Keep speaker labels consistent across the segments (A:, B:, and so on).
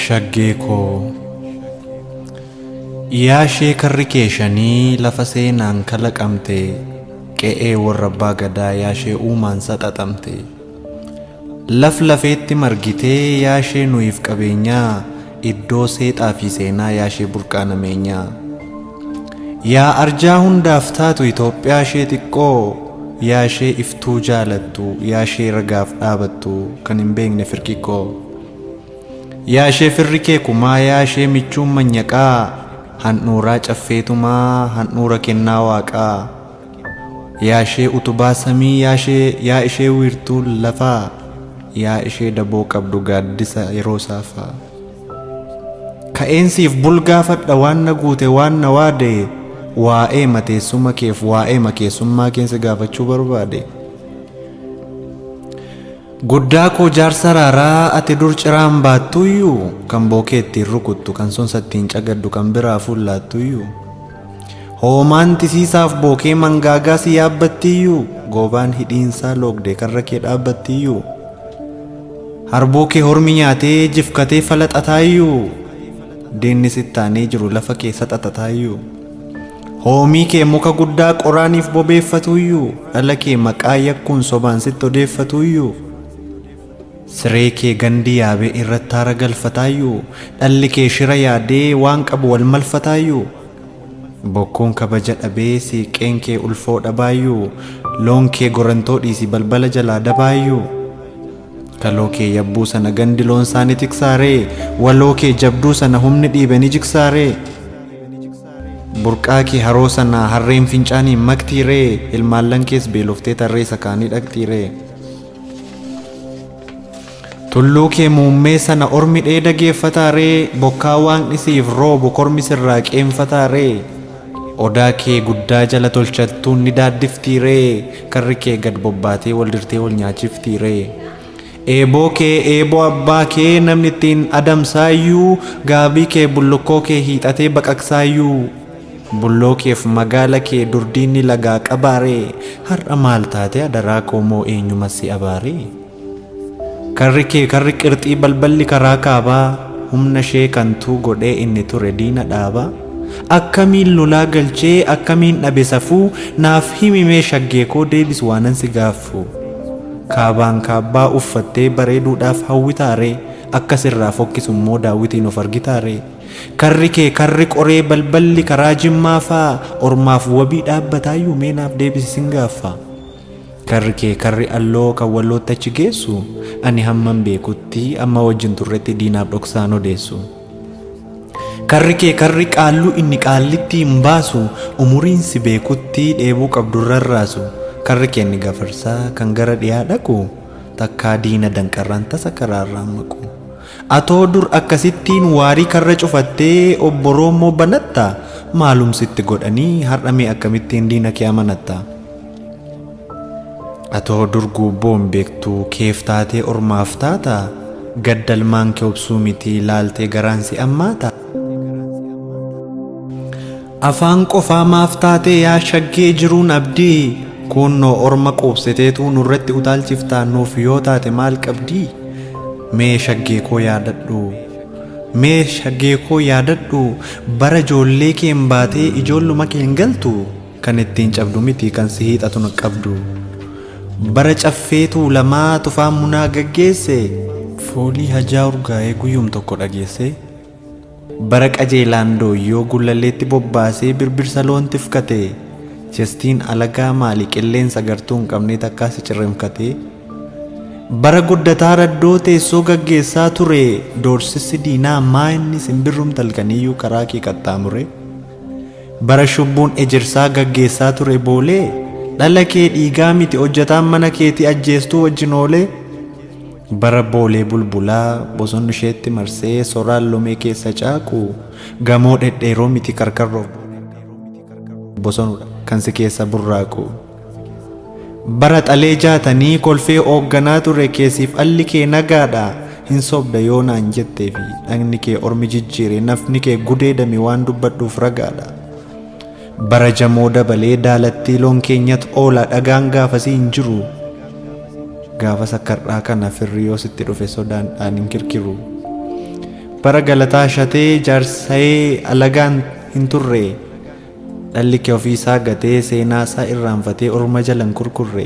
A: shaggee koo yaa ishee karri kee shanii lafa seenaan kalaqamte qe'ee warra abbaa gadaa yaa ishee uumaan saxaxamte Laf lafeetti margitee yaa shee nuyiif qabeenyaa Iddoo seexaa fi seenaa yaa shee burqaa nameenyaa Yaa arjaa hundaaf taatu Itoophiyaa shee xiqqoo Yaa shee iftuu jaalattu yaa shee ragaaf dhaabattu kan hin beekne firqiqqoo Yaa shee firri kee kumaa yaa shee michuun manyaqaa Handhuuraa caffee tumaa handhuura kennaa waaqaa Yaa ishee utubaa samii yaa ishee Yaa ishee wiirtuu lafaa Yaa ishee daboo qabdu gaaddisa yeroo saafaa Ka'een siif bulgaafadha waan na guute waan na waade Waa'eema teessuma keef waa'eema keessummaa keen si gaafachuu barbaade Guddaa koo jaarsa raaraa ati dur ciraan baattuyyuu Kan bookee ittiin rukuttu kan sonsa ittiin cagaddu kan biraa fuullaattuyyuu Hoomaan tisiisaaf bookee mangaagaa si yaabbattiiyyuu goobaan hidhiinsaa loogdee karra kee dhaabbattiiyyuu harbuu kee hormi nyaatee jifkatee falaxataayyuu diinni sittaanee jiru lafa kee saxaxataayyuu hoomii kee muka guddaa qoraaniif bobeeffatuuyyuu dhala kee maqaa yakkuun sobaan sitti odeeffatuuyyuu Siree kee gandi yaabee irratti aara galfataayyuu Dhalli kee shira yaadee waan qabu wal malfataayyuu Bokkuun kabaja dhabee siiqqeen kee ulfoo dhabaayyuu Loon kee gorantoo dhiisi balbala jalaa dabaayyuu Kaloo kee yabbuu sana gandi loonsaa ni tiksaaree Waloo kee jabduu sana humni dhiibe ni jigsaaree Burqaa kee haroo sana harreen fincaaniin maktiiree Ilmaallan kees beeloftee tarree sakaanii dhaqxiiree. Tulluu kee muummee sana ormi dheeda geeffataa ree bokkaa waaqni siif roobu kormi sirraa qeenfataa ree odaa kee guddaa jala tolchattuun ni daaddiftii ree karri kee gad bobbaatee wal dirtee wal nyaachiftii ree eeboo kee eeboo abbaa kee namni ittiin adamsaayyuu gaabii kee bullukkoo kee hiixatee baqaqsaayyuu Bulloo keef magaala kee dur diinni lagaa qabaaree har'a maal taate adaraa koo moo eenyuma si abaaree? Karri kee karri qirxii balballi karaa kaabaa humna ishee kan tuu godhee inni ture diina dhaabaa Akkamiin lolaa galchee akkamiin dhabe safuu naaf himi mee shaggee koo deebis waanan si gaaffuu Kaabaan kaabbaa uffattee bareeduudhaaf hawwitaaree akka sirraa fokkisu immoo daawwitiin of argitaaree? Karri kee karri qoree balballi karaa jimmaa faa ormaaf wabii dhaabbataayyu mee naaf deebisi sin gaaffa. Karri kee karri alloo kan wallootti achi geessu ani hamman beekutti amma wajjin turretti diinaaf dhoksaan odeessu. Karri kee karri qaalluu inni qaallittii hin baasu umuriin si beekutti dheebuu qabdu hin rarraasu. Karri kee inni gafarsaa kan gara dhiyaa dhaqu takkaa diina danqarraan tasa karaarraan maqu. Atoo dur akkasittiin waarii karra cufattee obbo roommoo banatta maalum sitti godhanii har'a mee akkamittiin diina kee amanatta? Atoo dur guubboo hin beektu keef taatee ormaaf taata gadda ilmaan kee obsuu miti laaltee garaan si ammaata? Afaan qofaa maaf taatee yaa shaggee jiruun abdii kuunnoo orma quubsiteetuu nurratti utaalchiftaa nuuf yoo taate maal qabdii mee shaggeekoo yaadadhuu mee shaggeekoo yaadadhuu bara ijoollee keen baatee ijoolluma keen galtu kan ittiin cabdu miti kan si hiixatun qabdu bara caffee tuulamaa tufaan munaa gaggeesse foolii hajaa urgaa'ee guyyum tokko dhageessee Bara qajeelaan dooyyoo Gullalleetti bobbaasee birbirsa loon tifkate. Chestiin alagaa maali qilleensa gartuu hin qabnee takkaa si cirrimfkate. Bara guddataa raddoo teessoo gaggeessaa ture doorsissi diinaa maa inni simbirrumti halkaniyyuu karaa kee qaxxaamure. Bara shubbuun ejersaa gaggeessaa ture boolee dhala kee dhiigaa miti hojjataan mana keetii ajjeestuu wajjin oolee. Bara Boolee Bulbulaa bosonni isheetti marsee soraan lomee keessa caaqu gamoo dhedheeroo miti karkarroof bosonudha kan si keessa burraaqu. Bara Xalee Jaatanii kolfee oogganaa ture kee siif alli kee nagaadha hin sobda yoo naan jettee fi dhagni kee ormi jijjiire nafni kee gudeedame waan dubbadhuuf ragaadha. Bara jamoo dabalee daalattii loon keenyat oola dhagaan gaafasii hin jiru gaafas akka har'aa kana firri yoo sitti dhufe sodaan dhaan hin kirkiru bara galataa shatee jaarsayee alagaan hin turre dhalli kee ofii isaa gatee seenaa isaa irraanfatee orma jala hin kurkurre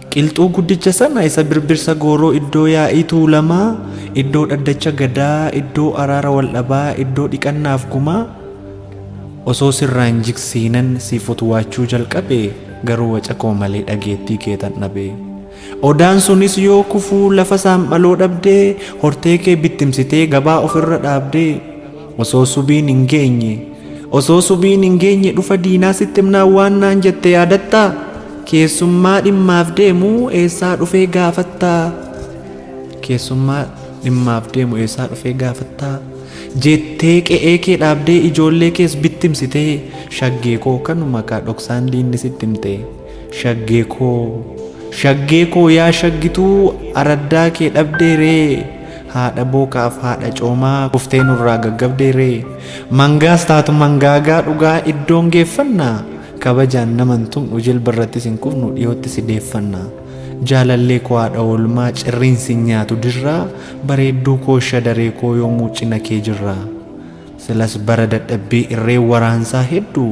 A: Qilxuu guddicha sana isa birbirsa gooroo iddoo yaa'ii tuulamaa, iddoo dhaddacha gadaa, iddoo araara waldhabaa, iddoo dhiqannaaf gumaa Osoo sirraa hin jiksiinan siif utwaachuu jalqabe garuu waca koo malee dhageettii keetan dhabe. Odaan sunis yoo kufu lafa saanphaloo dhabde hortee kee bittimsitee gabaa ofirra dhaabde. Osoo subiin hin geenye Osoo subiin hin geenye dhufa diinaa sitti himnaan waan naan jette yaadattaa? Keessummaa dhimmaaf deemu eessaa dhufee gaafattaa? Keessummaa dhimmaaf deemu eessaa dhufee gaafattaa? Jettee qe'ee kee dhaabdee ijoollee kees bittimsitee shaggee koo kanuma kaa dhoksaan diinni sitti himtee. Shaggee koo shaggee koo yaa shaggituu araddaa kee dhabdee ree haadha bookaaf haadha coomaa kuftee nurraa gaggabdee ree mangaas taatu mangaagaa dhugaa iddoon geeffanna kabajaan naman tumnu jilba irrattis hin kufnu dhiyootti si deeffanna jaalallee koo haadha oolmaa cirriin si nyaatu dirraa bareedduu koo shadaree koo yoomuu cina kee jirra silas bara dadhabbii irree waraansaa hedduu